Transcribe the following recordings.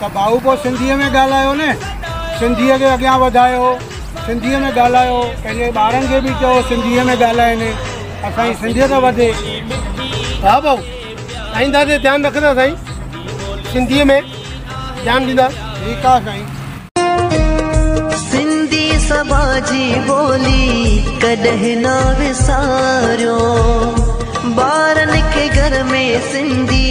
ته ڀائو پوء سنڌيء ۾ ڳالهايو نه، سنڌيء کي اڳيان وڌايو، سنڌيء ۾ ڳالهايو، پنهنجي ٻارن کي به چئو سنڌيء ۾ ڳالهائين، اسان جي سنڌيت وڌي. ها ڀائو، آئنده تي ڌيان رکندا سائين، سنڌيء ۾ ڌيان ڏيندا. ٺيڪ آ سائين. سنڌي سڀا جي ٻولي ڪڏهن نه وساريو، ٻارن کي گهر ۾ سنڌي.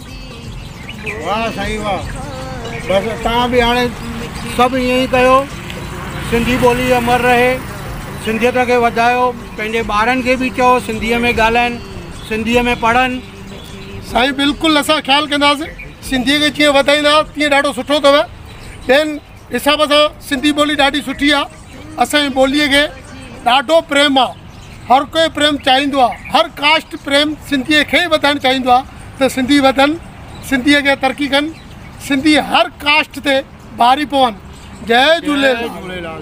واه سائين واه بس تان به هاڻي سڀ ائين ئي ڪيو سنڌي ٻولي امر رهي سنڌيت کي وڌايو پنهنجي ٻارن کي به چئو سنڌيء ۾ ڳالهائن سنڌيء ۾ پڙهن سائين بلڪل اسان خيال ڪنداسين سنڌيء کي جيئن وڌائيندا تيئن ڏاڍو سٺو اٿو ٻين حساب سان سنڌي ٻولي ڏاڍي سٺي آ اسان جي ٻولي کي ڏاڍو پريم آ هر ڪوئي پريم چاهيندو آ هر ڪاسٽ پريم سنڌي کي ئي وڌائڻ چاهيندو آ ته سنڌي وڌن سنڌي اڳيان ترقي ڪن سنڌي هر ڪاسٽ تي ڀاري پون جئي جهوليلال